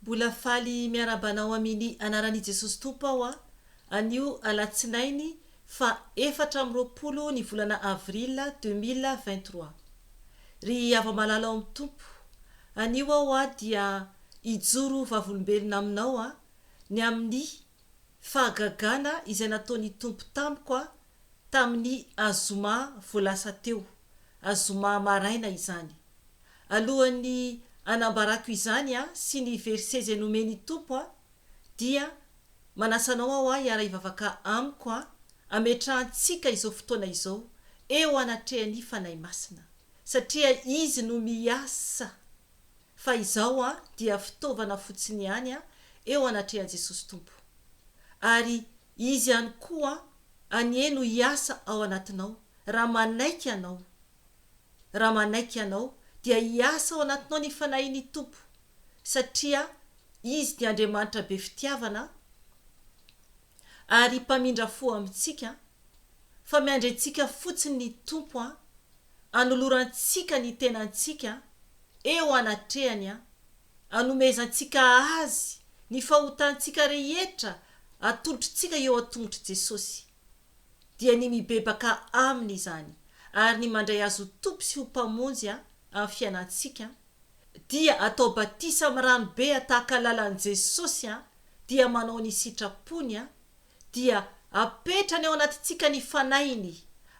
Mbola faly miarahaba anao amini anarani Jesosy Tompo aho a, anio alatsinainy fa efatra amby roapolo ny volana avril deux mille vingt trois. Ry hava-malala ao amin'ny Tompo, anio aho a dia hijoro vavolombelona aminao a, ny amini fahagagana izay nataoni Tompo tamiko a, tamini azoma vao lasa teo, azoma maraina izany. Alohan'ny hanambarako izany aho sy ny verset izay nomen'ny Tompo aho, dia manasa anao aho aho hiara-hivavaka amiko aho, hametrahantsika izao fotoana izao eo anatrehan'ny Fanahy Masina, satria Izy no miasa, fa izaho aho dia fitaovana fotsiny ihany aho eo anatrehan'i Jesosy Tompo. Ary Izy ihany koa anie no hiasa ao anatinao, raha manaiky Anao. Raha manaiky ianao, dia hiasa ao anatinao ny Fanahin'ny Tompo, satria Izy dia Andriamanitra be fitiavana ary Mpamindra fo amintsika, fa miandry antsika fotsiny ny Tompo hanolorantsika ny tenantsika eo anatrehany, hanomezantsika Azy ny fahotantsika rehetra atolotritsika eo an-tongotr'i Jesosy. dia ny mibebaka Aminy izany, ary ny mandray Azy ho Tompo sy ho Mpamonjy amin'ny fiainantsika, dia atao batisa amin'ny rano be tahaka lalan'i Jesosy, dia manao ny sitrapony, dia apetrany ao anatintsika ny Fanahiny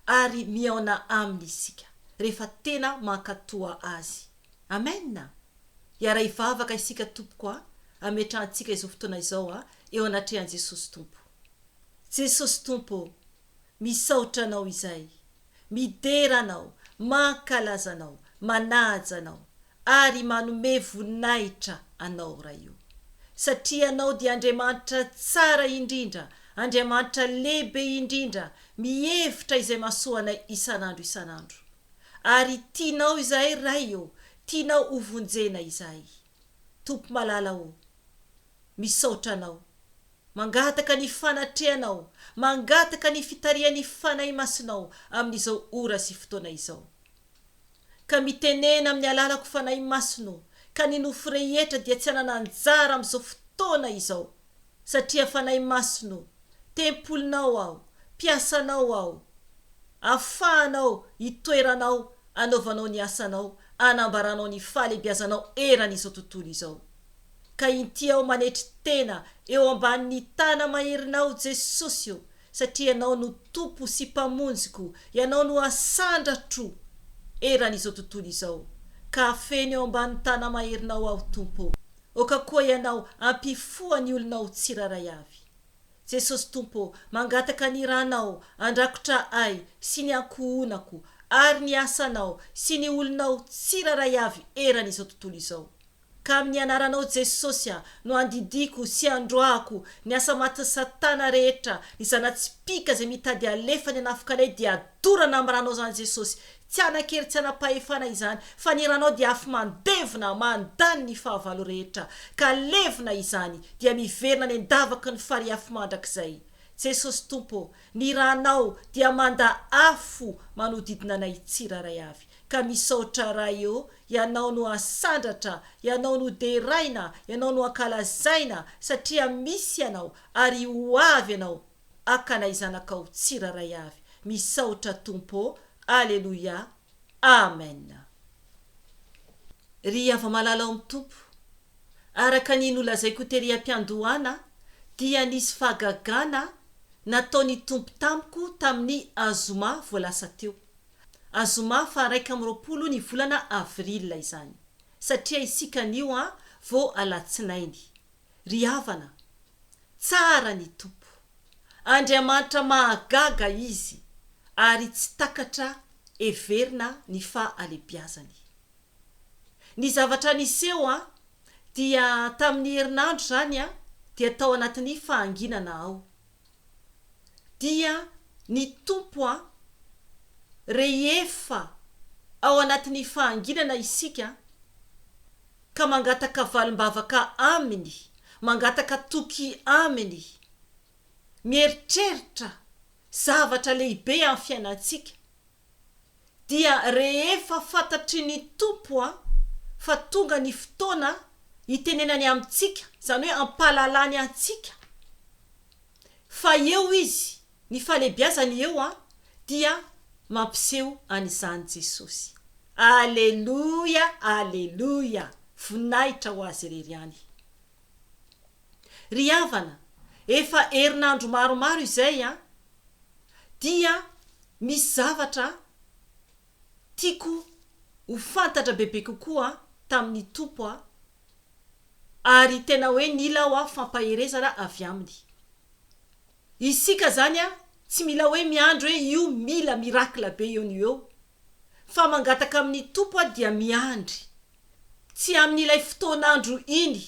ary mihaona Aminy isika rehefa tena mankatoa Azy. Amen! Hiara-hivavaka isika tompoko a, ametrahantsika izao fotoana izao eo anatrehan'i Jesosy Tompo. Jesosy Tompo ô, misaotra Anao izay, midera Anao, mankalaza Anao, manaja Anao, ary manome voninahitra Anao Ray ô. Satria Ianao dia Andriamanitra tsara indrindra, Andriamanitra lehibe indrindra, mihevitra izay mahasoa anay isan'andro isan'andro. Ary tianao izahay Ray ô, tianao hovonjena izahay. Tompo malala o! Misaotra Anao. Mangataka ny fanatrehanao, mangataka ny fitarihan'ny Fanahy Masinao amin'izao ora sy fotoana izao. Ka mitenena amin'ny alalako Fanahy Masina o, ka ny nofo rehetra dia tsy hanana anjara amin'izao fotoana izao. satria Fanahy Masina ô, tempolinao aho, mpiasanao aho, afahanao itoeranao anaovanao ny asanao, anambaranao ny fahalebiazanao eran'izao tontolo izao. Ka inty aho manetry tena eo ambanin'ny tana maherinao Jesosy ô, satria Ianao no Tompo sy Mpamonjiko, Ianao no asandratro eran'izao tontolo izao, ka afeno eo ambany tana maherinao aho Tompo ô. Aoka koa ianao hampifoha ny olonao tsirairay avy. Jesosy Tompo ô, mangataka ny Ranao handrakotra ahy sy ny ankohonako ary ny asanao sy ny olonao tsirairay avy eran' izao tontolo izao. Ka amin' ny Anaranao Jesosy a no andidiako sy androahako ny asa matin' Satana rehetra, ny zana-tsipìka izay mitady alefa ny hanafika anay dia dorana amin' Ranao izany Jesosy Tsy hanan-kery tsy hanam-pahefana izany, fa ny ranao dia afo mandevona, mandany ny fahavalo rehetra, ka levona izany, dia miverina any an-davaky ny farihy afo mandrakizay. Jesosy Tompo ô, ny ranao dia manda afo manodidina anay tsirairay avy. Ka misaotra Ray ô, Ianao no asandratra, Ianao no deraina, Ianao no ankalazaina, satria misy Ianao, ary ho avy Ianao, akana i zanakao tsiraray avy misaotra tompo ô aleloia amen ry havamalala ao am tompo araka ny nolazaiko tery ampiandohana dia nisy fahagagana natao ny tompo tamiko taminy azoma vao lasa teo azoma faha raika amby roapolo ny volana avril izany satria isika anio an vao alatsinainy Ry havana, tsara ny Tompo. Andriamanitra mahagaga Izy ary tsy takatra heverina ny fahalebiazany. Ny zavatra niseho an, dia tamin'ny herinandro izany an, dia tao anatin'ny fahanginana aho. dia ny Tompo an! rehefa ao anatin'ny fahanginana isika ka mangataka valim-bavaka Aminy, mangataka toky Aminy, mieritreritra zavatra lehibe amin'ny fiainantsika, dia rehefa fantatry ny Tompo fa tonga ny fotoana hitenenany amintsika, izany hoe hampahalalany antsika fa eo Izy, ny fahalebiazany eo dia mampiseho an'izany Jesosy. Aleloia! Aleloia! Voninahitra ho Azy irery ihany. Ry havana, efa herinandro maromaro izay an, dia misy zavatra tiako ho fantatra bebe kokoa tamin'ny Tompo an, ary tena hoe nila aho an fampaherezana avy Aminy. Isika izany an, tsy mila hoe miandry hoe io mila miracle be eo no eo, fa mangataka amin'ny Tompo aho dia miandry, tsy amin'ilay fotoan'andro iny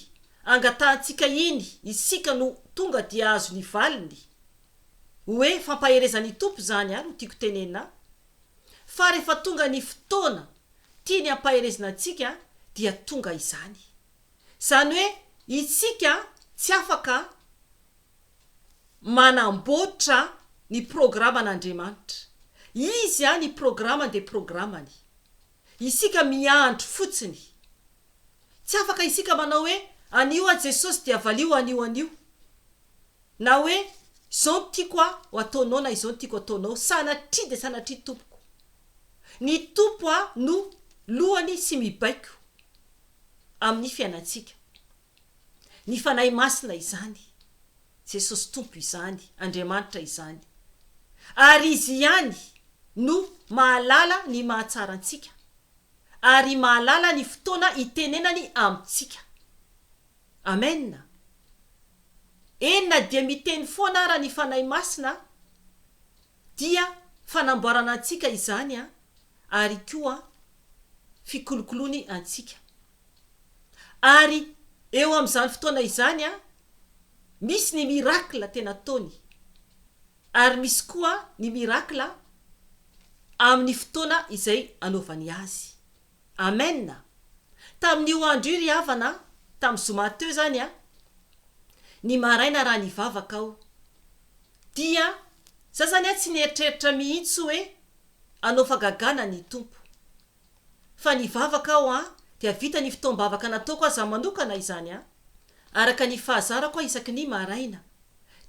angatahantsika iny isika no tonga dia azo ny valiny, hoe fampaherezan'ny Tompo izany aho no tiako tenena, fa rehefa tonga ny fotoana tiany hampaherezina antsika dia tonga izany, izany hoe itsika tsy afaka manamboatra ny programan'Andriamanitra. Izy an ny programany dia programany. Isika miandry fotsiny. Tsy afaka isika manao hoe anio aho Jesosy dia valio anio anio. Na hoe izao no tiako aho ho ataonao na izao no tiako ataonao. Sanatria dia sanatria tompoko. Ny Tompo an no lohany sy mibaiko amin'ny fiainantsika. Ny Fanahy Masina izany. Jesosy Tompo izany, Andriamanitra izany. Ary Izy ihany no mahalala ny mahatsara antsika, ary mahalala ny fotoana hitenenany amintsika. Amena. Eny na dia miteny foana ara ny Fanahy Masina dia fanamboarana antsika izany ary koa fikolokoloany antsika. Ary eo amin'izany fotoana izany, misy ny miracle tena ataony, ary misy koa ny miracle amin'ny fotoana izay anaovany azy. Amen! Tamin'io andro io ry havana, tamin'ny zoma teo izany, ny maraina raha nivavaka aho, dia za izany tsy nieritreritra mihitsy hoe hanao fagagana ny Tompo. fa nivavaka aho an dia vita ny fotoam-bavaka nataoko aho za manokana izany an araka ny fahazarako an isaky ny maraina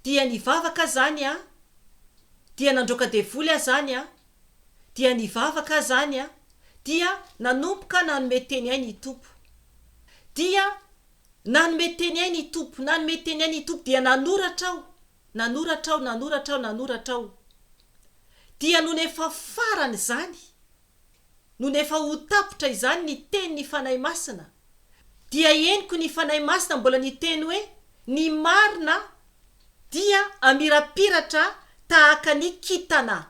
dia nivavaka aho zany an dia nandroaka devoly aho zany an dia nivavaka aho zany an dia nanomboka nanome teny ahy ny Tompo dia nanome teny ahy ny Tompo nanome teny ahy ny Tompo dia nanoratra aho nanoratra aho nanoratra aho nanoratra aho dia nony efa farany zany nony efa ho tapitra izany ny tenin'ny Fanahy Masina, dia henoko ny Fanahy Masina mbola niteny hoe, Ny marina dia amirapiratra tahaka ny kintana.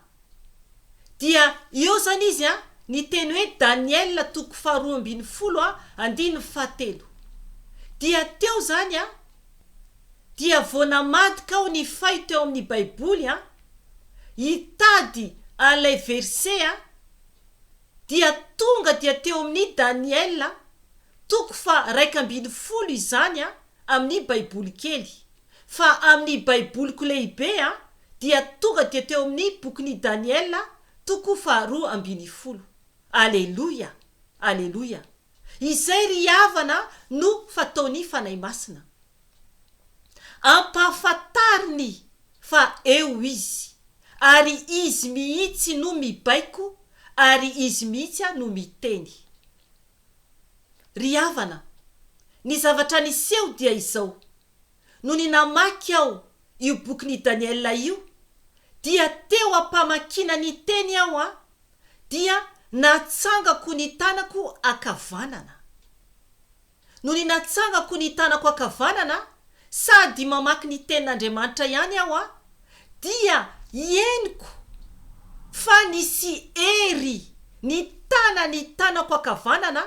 Dia eo izany izy an, ny teny hoe Daniela toko faharoa ambin'ny folo an, andininy fahatelo. Dia teo izany an. dia vao namadika aho nifay teo amin'ny baiboly aho hitady an'ilay verset aho dia tonga dia teo amin'ny Daniela toko faha iraika ambin'ny folo izany aho amin'ny baiboly kely fa amin'ny baiboliko lehibe aho dia tonga dia teo amin'ny bokin'i Daniela toko faha roa ambin'ny folo Aleloia Aleloia Izay ry havana no fataon'ny Fanahy Masina. Ampahafantariny fa eo Izy, ary Izy mihitsy no mibaiko ary Izy mihitsy no miteny. Ry havana, ny zavatra niseho dia izao, nony namaky aho io bokin'i Daniela io, dia teo am-pamakiana ny teny aho an, dia natsangako ny tanako ankavanana. Nony natsangako ny tanako ankavanana, sady mamaky ny Tenin'Andriamanitra ihany aho, dia henoko fa nisy hery nitana ny tanako ankavanana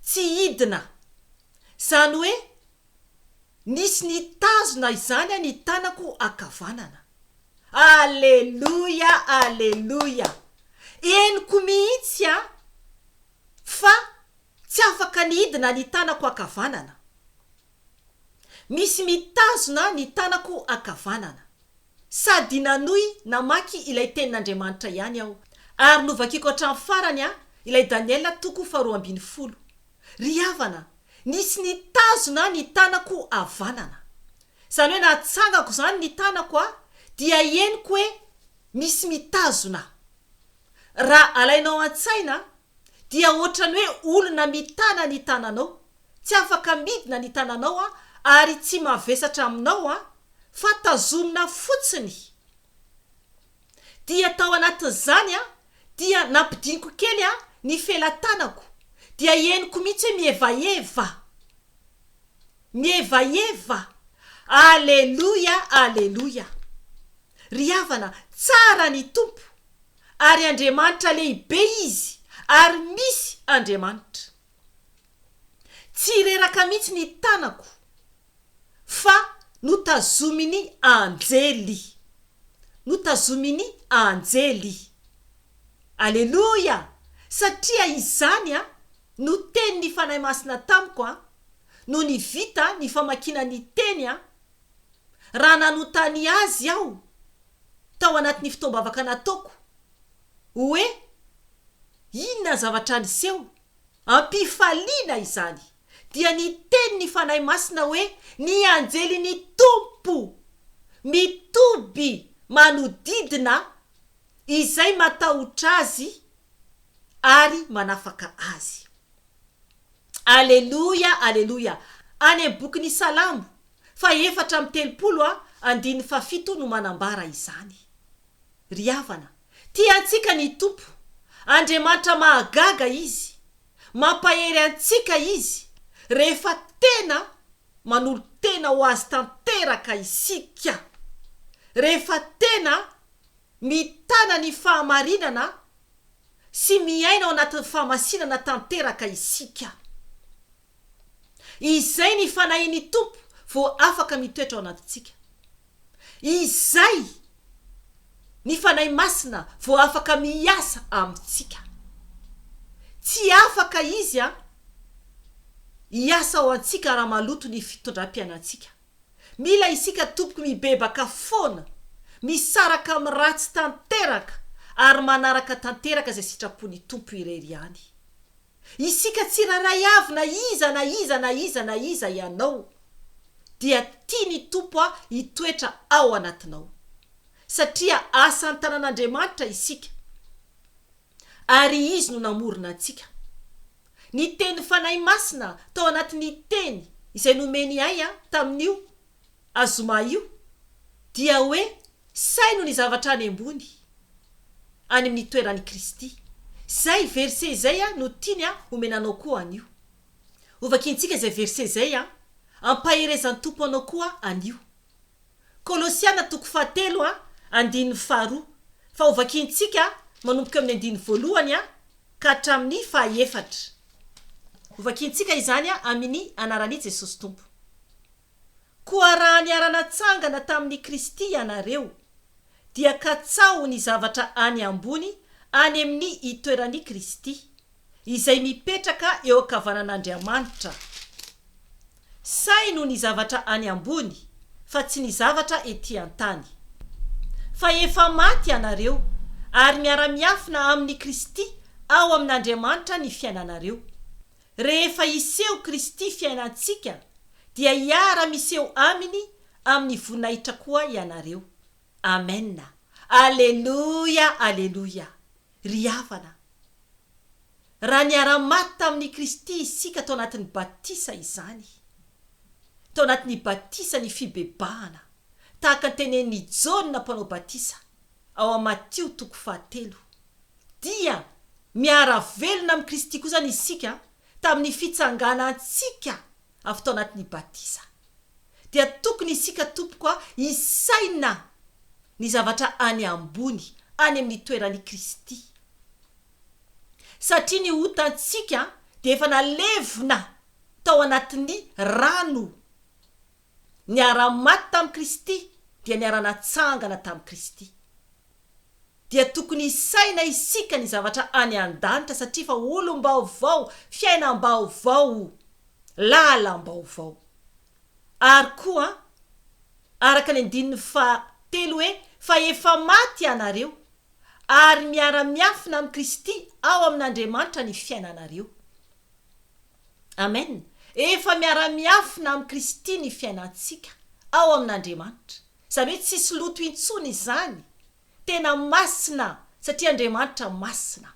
tsy hidina, izany hoe, Nisy nitazona izany an ny tanako ankavanana. Aleloia aleloia henoko mihitsy an fa tsy afaka nidina ny tanako ankavanana. Misy mitazona ny tanako ankavanana. Sady nanohy namaky ilay tenin'Andriamanitra ihany aho ary novakiko hatramin'ny farany an ilay Daniela toko faharoa ambin'ny folo. Ry havana, nisy nitazona ny tanako havanana. Izany hoe nahatsangako izany ny tanako aho dia henoko hoe misy mitazona aho. Raha alainao an-tsaina dia ohatran'ny hoe olona mitana ny tananao, tsy afaka midina ny tananao an, ary tsy mavesatra aminao an, fa tazomina fotsiny. dia tao anatin'izany aho dia nampidiniko kely aho ny felatanako dia henoko mihitsy hoe mihevaheva, mihevaheva, Aleloia, Aleloia! Ry havana, tsara ny Tompo ary Andriamanitra lehibe Izy ary misy Andriamanitra. Tsy reraka mihitsy ny tanako. fa notazomin'ny anjely. Notazomin'ny anjely. Aleloia! Satria izany an, no tenin'ny Fanahy Masina tamiko an, nony vita ny famakiana ny Teny an, raha nanontany Azy aho, tao anatin'ny fotoam-bavaka nataoko, hoe, Inona ny zavatra niseho? Am-pifaliana izany! dia niteny ny Fanahy Masina hoe, Ny anjelin'ny Tompo mitoby manodidina izay matahotra Azy ary manafaka azy. Aleloia, aleloia. Any amin'ny bokin'ny Salamo fahefatra amby telopolo a, andininy fahafito no manambara izany. Ry havana, tia antsika ny Tompo. Andriamanitra mahagaga Izy. Mampahery antsika Izy rehefa tena manolo-tena ho Azy tanteraka isika, rehefa tena mitana ny fahamarinana sy miaina ao anatin'ny fahamasinana tanteraka isika. Izay ny Fanahin'ny Tompo vao afaka mitoetra ao anatintsika. izay ny Fanahy Masina vao afaka miasa amintsika. Tsy afaka Izy an, hiasa ao antsika raha maloto ny fitondram-piainantsika. Mila isika tompoko mibebaka foana, misaraka amin'ny ratsy tanteraka ary manaraka tanteraka izay sitrapon'ny Tompo irery ihany. Isika tsirairay avy na iza na iza na iza na iza ianao dia tia ny Tompo hitoetra ao anatinao. Satria asa an-tanan'Andriamanitra isika ary Izy no namorona antsika. Niteny Fanahy Masina tao anatin'ny Teny izay nomeny ahy tamin'io a zoma io dia hoe saino ny zavatra any ambony any amin'ny toeran'i Kristy. Izay verset izay a no tiany a homena anao koa anio. Hovakiantsika izay verset izay a. Ampaherezan'ny Tompo anao koa anio. Kolosiana toko fahatelo a andininy faharoa fa hovakiantsika manomboka eo amin'ny andininy voalohany a ka hatramin'ny fahaefatra. Hovakiantsika izany a amini anaran'i Jesosy Tompo. Koa raha niara-natsangana tamin'i Kristy ianareo, dia katsaho ny zavatra any ambony any amin'ny itoeran'i Kristy, izay mipetraka eo ankavanan'Andriamanitra. Saino ny zavatra any ambony, fa tsy ny zavatra etỳ an-tany. Fa efa maty ianareo, ary miara-miafina amin'i Kristy ao amin'Andriamanitra ny fiainanareo. Rehefa hiseho Kristy fiainantsika dia hiara-miseho Aminy amin'ny voninahitra koa ianareo. Amen! Aleloia! Aleloia! Ry havana, raha niara-maty tamin'I Kristy isika tao anatin'ny batisa izany, tao anatin'ny batisa ny fibebahana, tahaka ny tenenin'I Jaona mpanao batisa ao amin'ny Matio toko fahatelo, dia miara-velona amin'i Kristy kosa ny isika tamin'ny fitsanganantsika avy tao anatin'ny batisa. Dia tokony isika tompoko a, hisaina ny zavatra any ambony, any amin'ny toeran'i Kristy. Satria ny otantsika dia efa nalevina tao anatin'ny rano. Niara-maty tamin'i Kristy dia niara-natsangana tamin'i Kristy. Dia tokony hisaina isika ny zavatra any an-danitra satria fa olom-baovao, fiainam-baovao, lalam-baovao. Ary koa, araka ny andininy faha telo hoe, fa efa maty ianareo, ary miara-miafina amin'i Kristy ao amin'Andriamanitra ny fiainanareo. Amen! Efa miara-miafina amin'i Kristy ny fiainantsika ao amin'Andriamanitra. Izany hoe tsisy loto intsony izany. Tena masina satria Andriamanitra masina.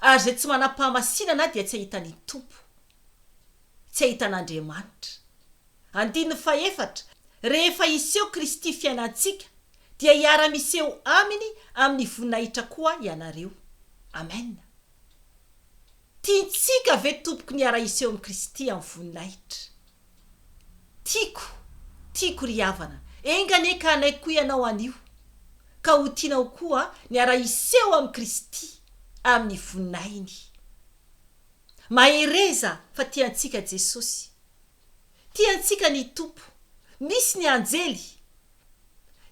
Ary izay tsy manam-pahamasinana dia tsy hahita ny Tompo. Tsy hahita an'Andriamanitra. Andininy fahefatra, Rehefa hiseho Kristy fiainantsika dia hiara-miseho Aminy amin'ny voninahitra koa ianareo. Amen! Tiantsika ve tompoko ny hiara-hiseho amin'i Kristy amin'ny voninahitra? Tiako, tiako ry havana, enga anie ka hanaiky koa ianao anio, ka ho tianao koa ny hiara-hiseho amin'i Kristy amin'ny voninahiny. Mahereza fa tiantsika Jesosy. Tia antsika ny Tompo. Misy ny anjely.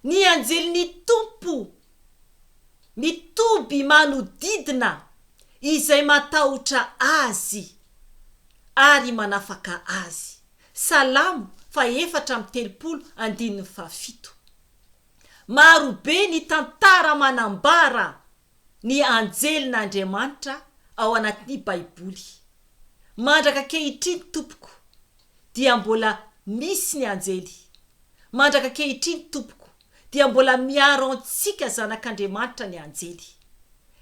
Ny anjelin'ny Tompo mitoby manodidina izay matahotra Azy ary manafaka azy. Salamo fahefatra amby telopolo, andininy fahafito. Maro be ny tantara manambara ny anjelin'Andriamanitra ao anatin'ny Baiboly. Mandraka ankehitriny, tompoko, dia mbola misy ny anjely. Mandraka ankehitriny, tompoko, dia mbola miaro antsika zanak'Andriamanitra ny anjely.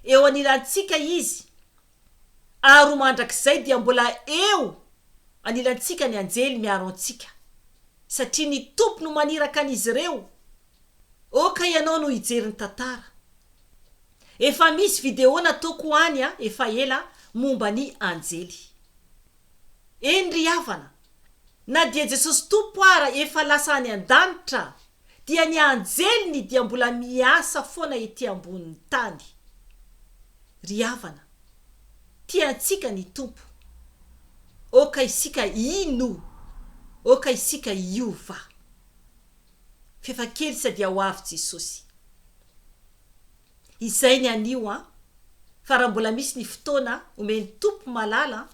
Eo anilantsika izy, ary ho mandrakizay dia mbola eo anilantsika ny anjely miaro antsika, satria ny Tompo no maniraka an'izy ireo. Oh ka ianao no hijery ny tantara. Efa misy video nataoko any a efa ela momba ny anjely. Eny ry havana, na dia Jesosy Tompo ara efa lasa any an-danitra dia ny anjeliny dia mbola miasa foana ety ambonin'ny tany. Ry havana, tia antsika ny Tompo. Oh ka isika hino, oh ka isika hiova. f'efa kely sadia ho avy Jesosy. Izay ny anio an! Fa raha mbola misy ny fotoana omen'i Tompo malala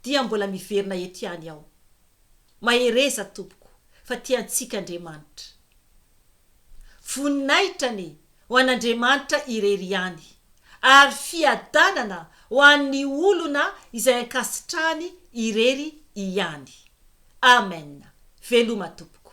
dia mbola miverina eto ihany aho. Mahereza tompoko fa tia antsika Andriamanitra. Voninahitra anie ho an'Andriamanitra irery ihany, ary fiadanana ho an'ny olona izay ankasitrahany irery ihany. Amen! Veloma tompoko.